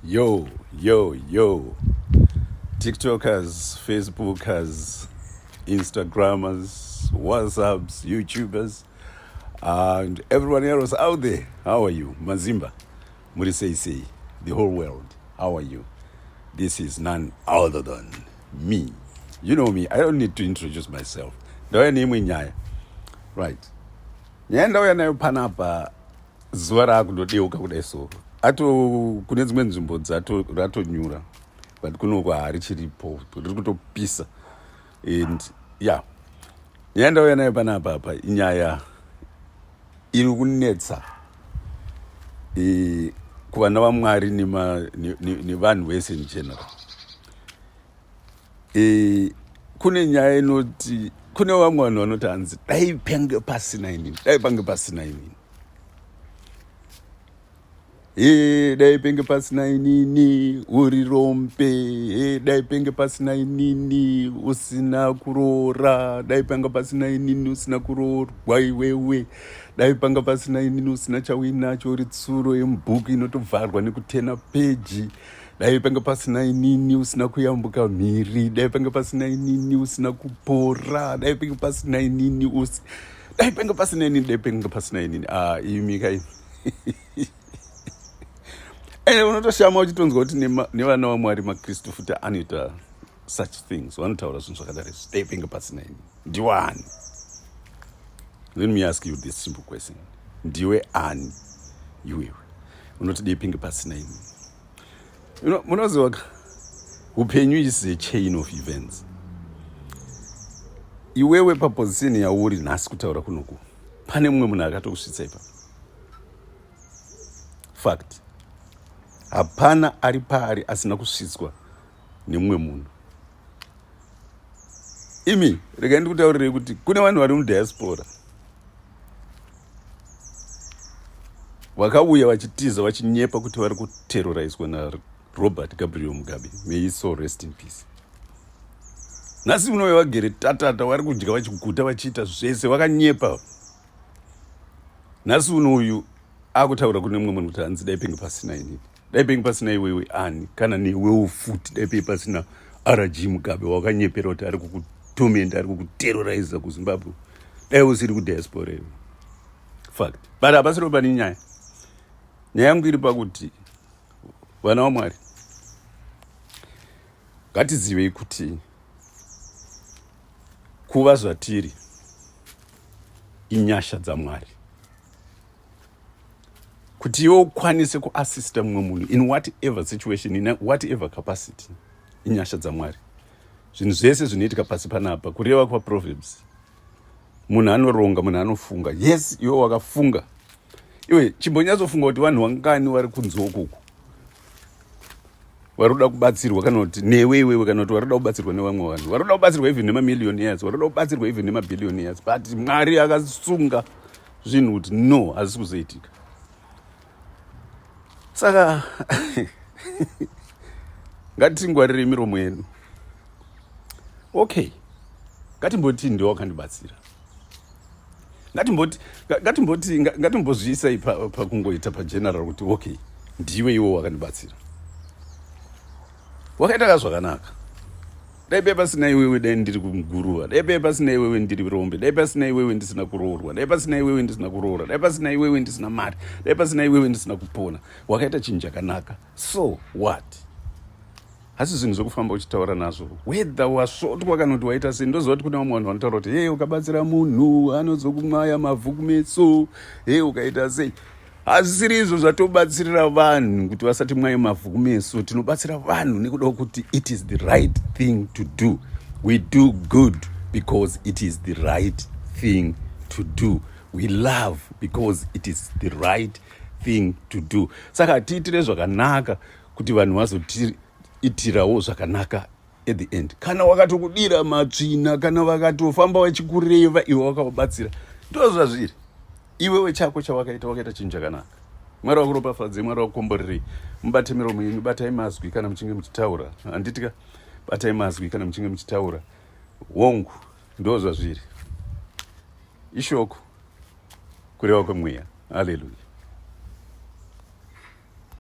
yo yo yo tiktokers facebookers instagrammers whatsapps youtubers and everyone else out there how are you mazimba muri sei sei the whole world how are you this is none other than me you know me i don't need to introduce myself ndauya neimwe nyaya right nyaya ndauya nayo panapa zuva raakundodeuka kudai so ato kune dzimwe nzvimbo ratonyura but kunoko harichiripo riri kutopisa and ya nyaya ndauya nayo panapa apa inyaya iri kunetsa e, kuvana vamwari nevanhu vese in general e, kune nyaya inoti kune vamwe vanhu vanoti hanzi dai pange pasina inini dai pange pasina inini Hey, dai penge pasina inini uri rombe hey, dai penge pasina inini usina kuroora dai panga pasina inini usina kuroorwa iwewe dai panga pasina inini usina chauinacho uri tsuro yemubhuku inotovharwa nekutena peji dai panga pasina inini usina kuyambuka mhiri dai panga pasina inini usina kupora dai panga pasina inini usi dai penge pasina inini dai penge pasina inini ah, imi kai ende unotoshama uchitonzwa kuti nevana vamwari makristu futi anoita such things vanotaura zvinhu zvakadari izvi dai penge pasina ini ndiwe ani let me ask you this simple question ndiwe ani iwewe unoti dai penge pasina ini munoziva ka upenyu is a chain of events iwewe paposition yauri nhasi kutaura kunoku pane mumwe munhu akatokusvitsa ipa fact hapana ari paari asina kusvitswa nemumwe munhu imi regai ndikutaurirei kuti kune vanhu vari mudiaspora vakauya vachitiza vachinyepa kuti vari kuteroraiswa narobert gabriel mugabe meiso rest in peace nhasi unove vagere tatata vari kudya vachiguta vachiita zvese vakanyepa nhasi uno uyu akutaura kune mumwe munhu kuti hanzi dai penge pasina inini dai penge pasina iwewe ani kana newewo futi dai penge pasina rg mugabe wakanyepera kuti ari kukutomenda ari kukuteroriza kuzimbabwe dai usiri kudiaspora iwe fact but hapasiro pane nyaya nyaya yangu iri pakuti vana vamwari ngatizivei kuti kuva zvatiri inyasha dzamwari kuti iwe ukwanise kuassista mumwe munhu in whatever situation in whatever capacity inyasha dzamwari zvinhu zvese zvinoitika pasi panapa kureva kwaproverbs munhu anoronga munhu anofunga yes iwe wakafunga iwe chimbonyatsofunga kuti vanhu vangani vari kunzi okuku vari kuda kubatsirwa kana kuti newe iwewe kana kuti vari kuda kubatsirwa nevamwe vanhu vari kuda kubatsirwa even nemamillion years vari kuda kubatsirwa even nemabhillion years but mwari akasunga zvinhu kuti no hazvisi kuzoitika saka ngatitingwarire miromo yedu okay ngatimboti ndiwo wakandibatsira ngatimbozviisai pakungoita pageneral kuti okay ndiwe iwo wakandibatsira wakaita ka zvakanaka dai paiva pasina iwewe dai ndiri kuguruva dai paiva pasina iwewe ndiri rombe dai pasina iwewe ndisina kuroorwa dai pasina iwewe ndisina kuroora dai pasina iwewe ndisina mari dai pasina iwewe ndisina kupona wakaita chinhu chakanaka so what hasi zvinhu zvekufamba uchitaura nazvo whether wasvotwa kana kuti waita sei ndoziva kuti kune vamwe vanhu vanotaura kuti hei ukabatsira munhu anozokumwaya mavhu kumetso hei ukaita sei hazvisiri izvo zvatobatsirira vanhu kuti vasati mwaye mavhu kumeso tinobatsira vanhu nekuda kwekuti it is the right thing to do we do good because it is the right thing to do we love because it is the right thing to do saka tiitire zvakanaka kuti vanhu vazotiitirawo zvakanaka at the end kana wakatokudira matsvina kana vakatofamba vachikureva iwe wakavabatsira ndozvazviri iwewe chako chawakaita wakaita chinhu chakanaka mwari wakuropafadzei mwari wakukomborerei mubate miromo yenyu batai mazwi kana muchinge muchitaura handitika batai mazwi kana muchinge muchitaura hongu ndo zvazviri ishoko kureva kwemweya haleluya